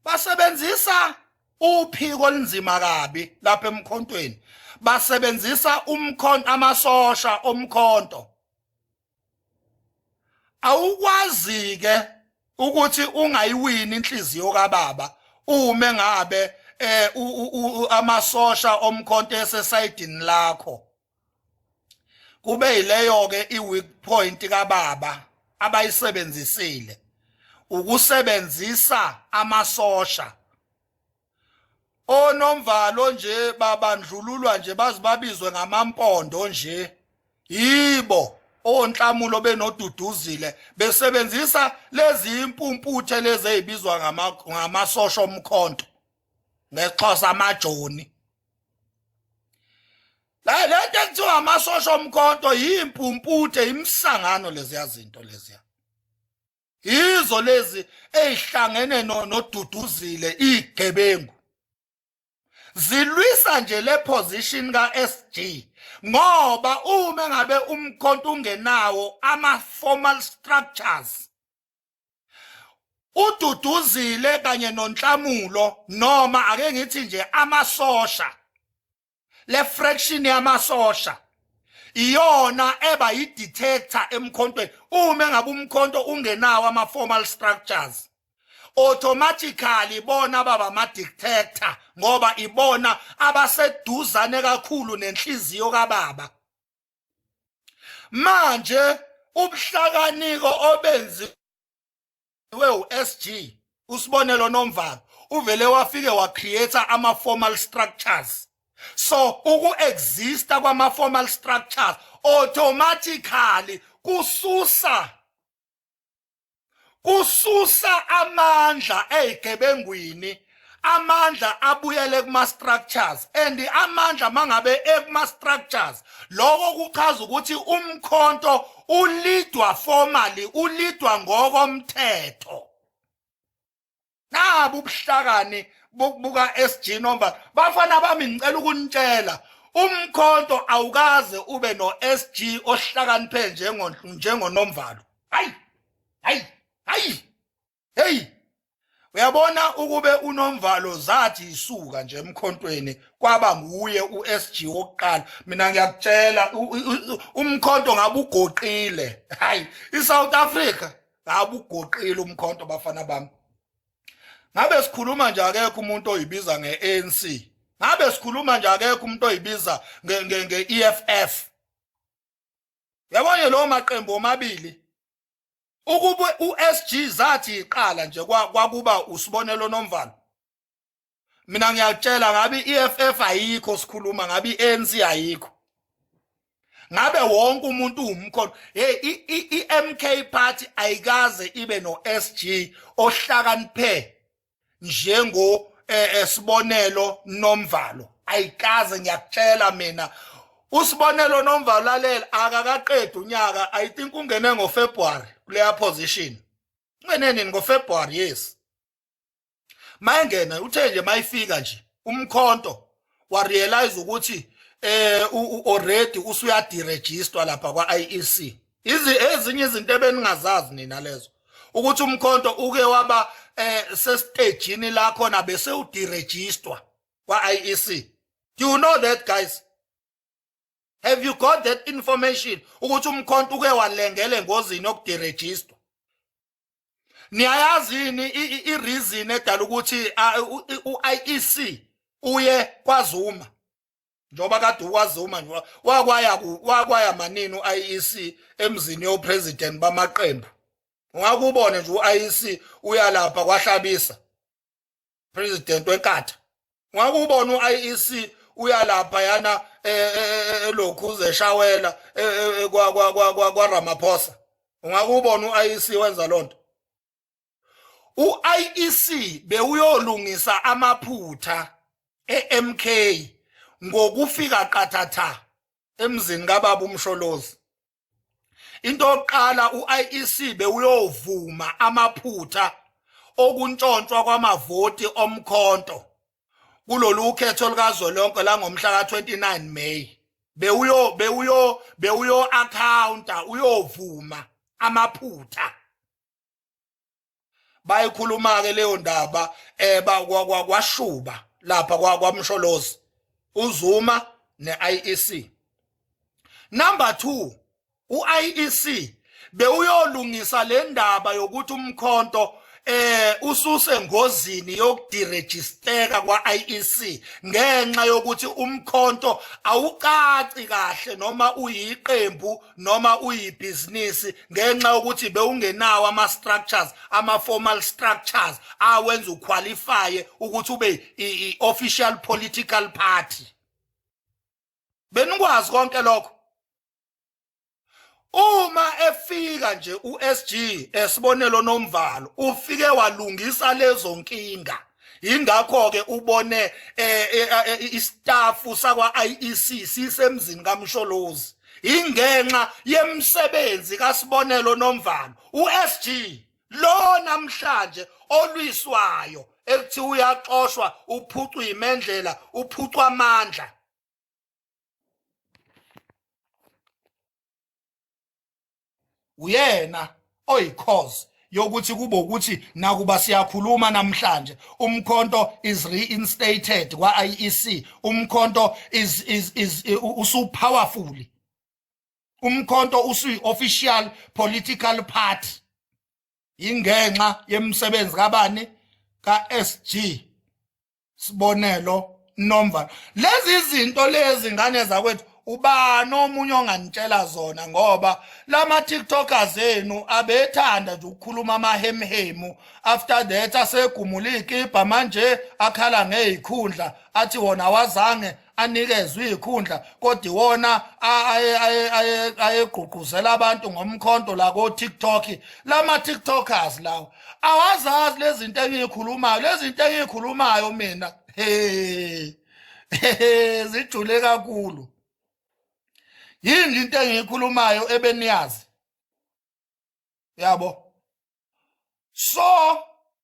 basebenzisa uphiko olunzima kabi lapha emkhontweni basebenzisa umkhonto amasosha omkhonto awukwazi ke ukuthi ungayiwini inhliziyo kababa ume ngabe eh amasosha omkhonto esesayidini lakho kube yileyo ke iweak point kababa abayisebenzisile ukusebenzisa amasosha onomvalo nje babandlululwa nje bazibabizwe ngamampondo nje yibo onhlamulo benoduduzile besebenzisa lezi impumputhe lezi ezibizwa ngamasosha omkhonto ngexhosa amajoni la le nto ekuthiwa amasosha omkhonto yimpumputhe imsangano leziya zinto leziya yizo lezi ezihlangene noduduzile igebengu zilwisa nje le position kaSG ngoba uma ngabe umkhonto ungenawo ama formal structures ududuzile kanye nonhlamulo noma ake ngithi nje amasosha le fraction yamasosha iyona eba yi detector emkhontweni uma ngabe umkhonto ungenawo ama formal structures automatically bona baba ama detector ngoba ibona abaseduzane kakhulu nenhliziyo kababa manje ubuhlakaniko obenziwe uSG usibonelo nomvalo uvele wafike wa create ama formal structures so uku exista kwama formal structures automatically kususa kususa amandla ezigebengwini amandla abuyele kuma structures and amandla mangabe ekuma structures lokho kuchaza ukuthi umkhonto ulidwa formally ulidwa ngokomthetho nabo ubuhlakani buka SG nomba bafana bami ngicela ukunitshela umkhonto awukaze ube no SG ohlakaniphe njengo njengonomvalo hayi hayi hayi hey uyabona ukube unomvalo zathi isuka nje emkhontweni kwaba nguye uSG wokuqala mina ngiyakutshela umkhonto ngabugoqile hayi iSouth Africa abugoqile umkhonto bafana bami ngabe sikhuluma nje akekho umuntu oyibiza nge-ANC ngabe sikhuluma nje akekho umuntu oyibiza nge-EFF yabonye lowo maqembu omabili ukube uSG zathi iqala nje kwakuba usibonelo nomvalo mina ngiyakutshela ngabe i-EFF ayikho sikhuluma ngabe i-ANC ayikho ngabe wonke umuntu uwumkhono hey i-MK party ayikaze ibe no-SG ohlakaniphe njengo eh, eh, sibonelo nomvalo ayikaze ngiyakutshela mina usibonelo nomvalo lalela akakaqedi unyaka i think ungene ngofebruary kuleya position ungene nini ngofebruary yes mayengena uthe nje mayifika nje umkhonto wa realize ukuthi eh already usuyadirejistwa lapha kwa IEC izi ezinye izinto ebeningazazi nina lezo ukuthi umkhonto uke waba eh sesitejini lakho na bese udirejistwa kwa IEC do you know that guys have you got that information ukuthi umkhonto uke walengele ngozini okudirejistwa niyayazi yini i-reason edala ukuthi u-IEC uye kwaZuma njengoba kade ukwazuma wakwaya wakwaya manini u-IEC emzini yopresident bamaqembu ungakubone nje u-IEC uyalapha kwahlabisa president wenkatha ngakubona uIEC uyalapha yana e, e, e, lokhu uzeshawela kwa kwa kwa kwa kwa Ramaphosa ungakubona uIEC wenza lonto uIEC bewuyolungisa amaphutha eMK ngokufika qathatha emzini kababa umsholozi into yokuqala uIEC bewuyovuma amaphutha okuntshontshwa kwamavoti omkhonto kulolu khetho likazwelonke langomhla ka-29 May bewuyo bewuyo bewuyo accounta uyovuma amaphutha bayikhuluma ke leyo ndaba eh kwashuba lapha kwamsholozi uzuma neIEC number 2 uIEC bewuyolungisa le ndaba yokuthi umkhonto eh ususe ngozini yokudirejisteka kwaIEC ngenxa yokuthi umkhonto awucaci kahle noma uyiqembu noma uyibhizinisi ngenxa yokuthi bewungenawo ama-structures ama-formal structures awenza ukhwalifaye ukuthi ube i-official political party benikwazi konke lokho uma efika nje uSG esibonelo nomvalo ufike walungisa lezo nkinga ingakho ke ubone eh, eh, eh, istaff sakwa IEC sisemzini kaMsholozi ingenxa yemsebenzi kasibonelo nomvalo uSG lo namhlanje olwiswayo ekuthi uyaxoshwa uphucwa imendlela uphucwa amandla uyena oyicause yokuthi kube ukuthi nakuba siyakhuluma namhlanje umkhonto is reinstated kwa IEC umkhonto is is is usu powerful umkhonto usu official political party ingenxa yemsebenzi kabani ka SG sibonelo nomva lezi zinto lezi ngane zakwethu ubani omunye onganitshela zona ngoba lama tiktokers enu abethanda nje ukukhuluma amahemhemu after that asegumula iy'kibha manje akhala ngey'khundla athi wona wazange anikezwe izikhundla kodwa iwona ayegqugquzela abantu ngomkhonto la ko TikTok lama TikTokers lawo awazazi lezinto engikhulumayo lezinto engikhulumayo mina hey zijule kakhulu yini into engikhulumayo ebeniyazi yabo so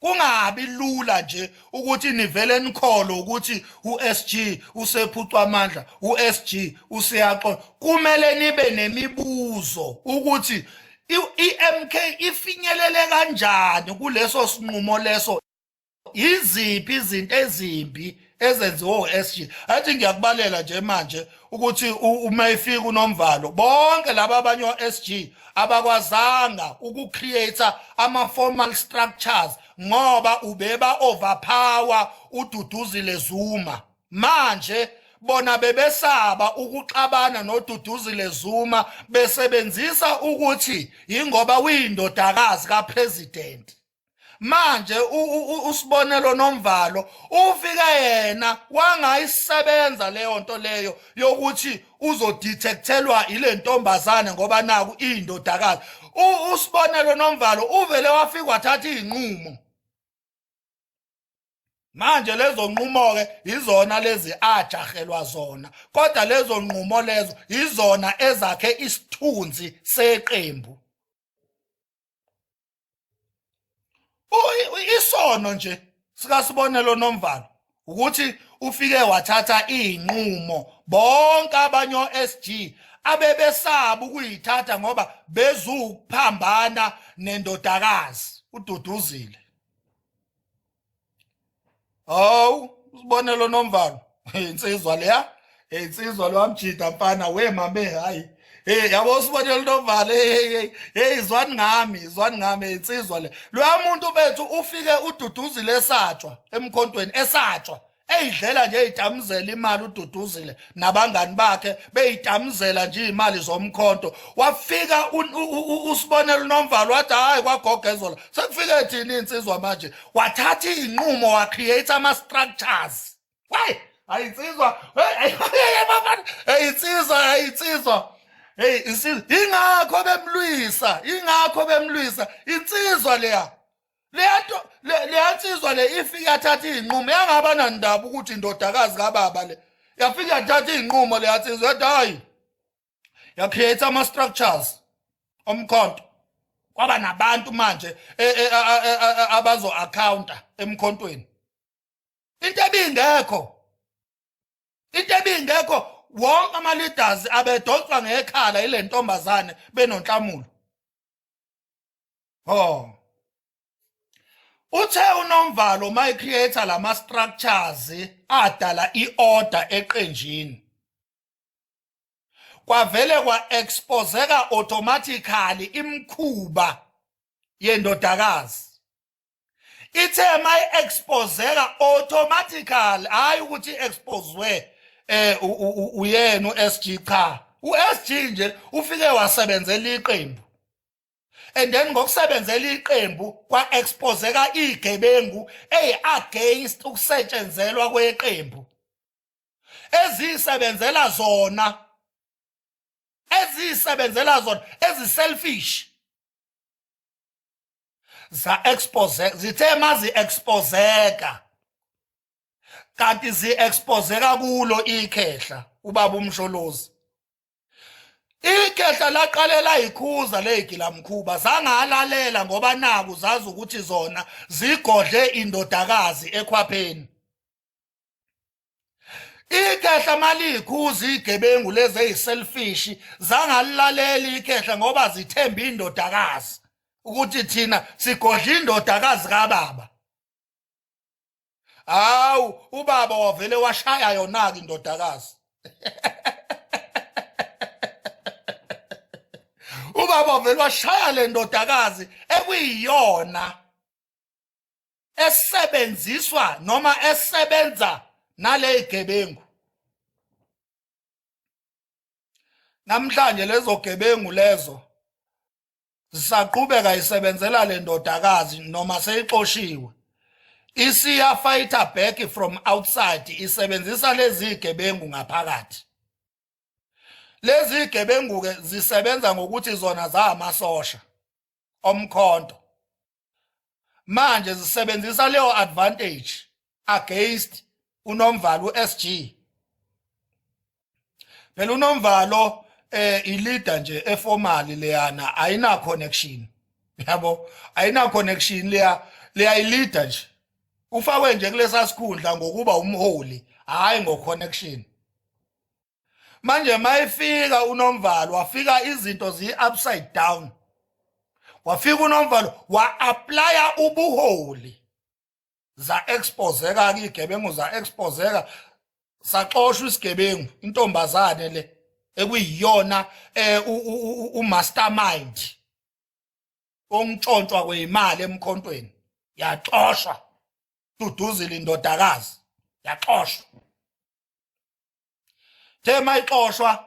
kungabi lula nje ukuthi nivele nikholo ukuthi uSG usephucwa amandla uSG useyaxola kumele nibe nemibuzo ukuthi iMK ifinyelele kanjani kuleso sinqumo leso iziphi izinto ezimbi ezenziwe uSG athi ngiyakubalela nje manje ukuthi uma ifika unomvalo bonke laba abanye oSG abakwazanga ukucreate ama formal structures ngoba ubeba overpower ududuzile Zuma manje bona bebesaba ukuxabana noduduzile Zuma besebenzisa ukuthi ingoba uyindodakazi kapresident manje usibonelo nomvalo ufike yena wangayisebenza leyo nto leyo yokuthi uzodetectelwa ile ntombazane ngoba naku iyindodakazi usibonelo nomvalo uvele wafika wathatha izinqumo manje lezo nqumo ke izona lezi ajahelwa zona kodwa lezo nqumo lezo izona ezakhe isithunzi seqembu isono nje sikasibonelo nomvalo ukuthi ufike wathatha izinqumo bonke abanye oSG abebesaba ukuyithatha ngoba bezukuphambana nendodakazi ududuzile hawu usibonelo nomvalo insizwa leya insizwa lwamjida mfana we mame hayi hey yabo usibonelo nomvalo hey hey hey zwani ngami zwani ngami insizwa le loya muntu bethu ufike ududuzile esatshwa emkhontweni esatshwa eyidlela nje itamuzela imali ududuzile nabangani bakhe beyitamuzela nje imali zomkhonto wafika usibonela unomvalo wathi hayi kwagogezola sekufike thini insizwa manje wathatha izinqumo wa create ama structures hey ayinsizwa hey bafana hey insizwa hey insizwa hey insizwa ingakho bemlwisa ingakho bemlwisa insizwa leya lento leyansizwa le ifike yathatha izinqumo yangaba nandaba ukuthi indodakazi kababa le yafike yathatha izinqumo leyansizwa yathi hayi yacreate ama structures omkhonto kwaba nabantu manje e, e, abazo accounta emkhontweni into ebingekho into ebingekho wonke ama leaders abedonswa ngekhala ile ntombazane benonhlamulo ho uthe unomvalo my creator lama structures adala iorder eqenjini kwavele kwa exposeka automatically imkhuba yendodakazi ithe mayi exposeka automatically hayi ukuthi exposwe eh uyena uSG cha uSG nje ufike wasebenzela iqembu and then ngokusebenzela iqembu kwa exposeka igebengu ey against ukusetshenzelwa kweqembu ezisebenzela zona ezisebenzela zona eziselfish za expose zithe mazi exposeka kanti zi exposeka kulo ikhehla ubaba umsholozi ikhehla laqalela ikhuza legila mkhuba zangalalela ngoba naku zazi ukuthi zona zigodle indodakazi ekhwapheni ikhehla malikhuza igebengu lezi eyiselfish zangalilaleli ikhehla ngoba zithemba indodakazi ukuthi thina sigodla indodakazi kababa hawu ubaba wavele washaya yona-ke indodakazi ubaba wavele washaya le ndodakazi ekuyiyona esebenziswa noma esebenza nalezigebengu namhlanje lezo gebengu lezo zisaqhubeka isebenzela le ndodakazi noma seyixoshiwe isiya fighter back from outside isebenzisa lezi gebengu ngaphakathi lezi gebengu ke zisebenza ngokuthi zona zamasosha omkhonto manje zisebenzisa leyo advantage against unomvalo uSG phela unomvalo eh ileader nje eformally leyana ayina connection yabo ayina connection leya leya ileader nje ufakwe nje kulesa sikhundla ngokuba umholi hayi ngo connection manje mayifika unomvalo wafika izinto ziyi upside down wafika unomvalo wa applya ubuholi za exposeka ke igebengu za exposeka saxoshwa isigebengu intombazane le ekuyiyona eh, u mastermind ontshontshwa kweyimali emkhontweni yaxoshwa duduzile indodakazi yaxoshwa the mayixoshwa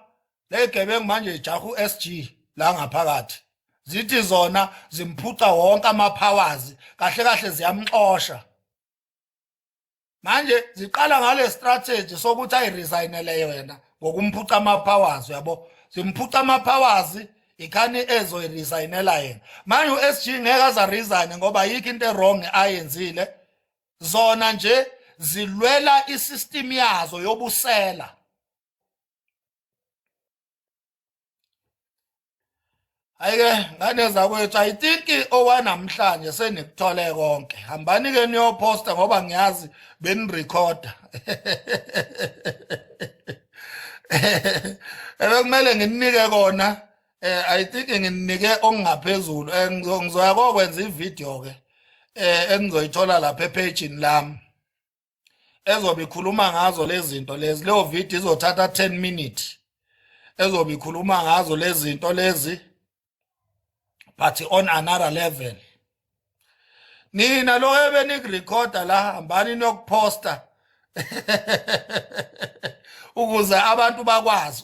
legebengu manje ijaha uSG la ngaphakathi zithi zona zimphuca wonke amapowers kahle kahle ziyamxosha manje ziqala ngale strategy sokuthi ayiresignele yona ngokumphuca amapowers yabo zimphuca amapowers ikhani ezoyiresignela yena manje uSG ngeke aza resign ngoba yikho into erong ayenzile zona nje zilwela isystem yazo yobusela ayike ngane zakwethu i think owanamhlanje senikuthole konke hambani ke niyoposta ngoba ngiyazi benirecorda ebekumele nginike kona eh i think nginike okungaphezulu eh, ngizoya kokwenza ivideo ke eh engizoyithola lapha epage lami ezobe ikhuluma ngazo lezinto lezi leyo video izothatha 10 minutes ezobe ikhuluma ngazo lezinto lezi but on another level nina lo ebenikurecorda la hambani nokuphosta ukuze abantu bakwazi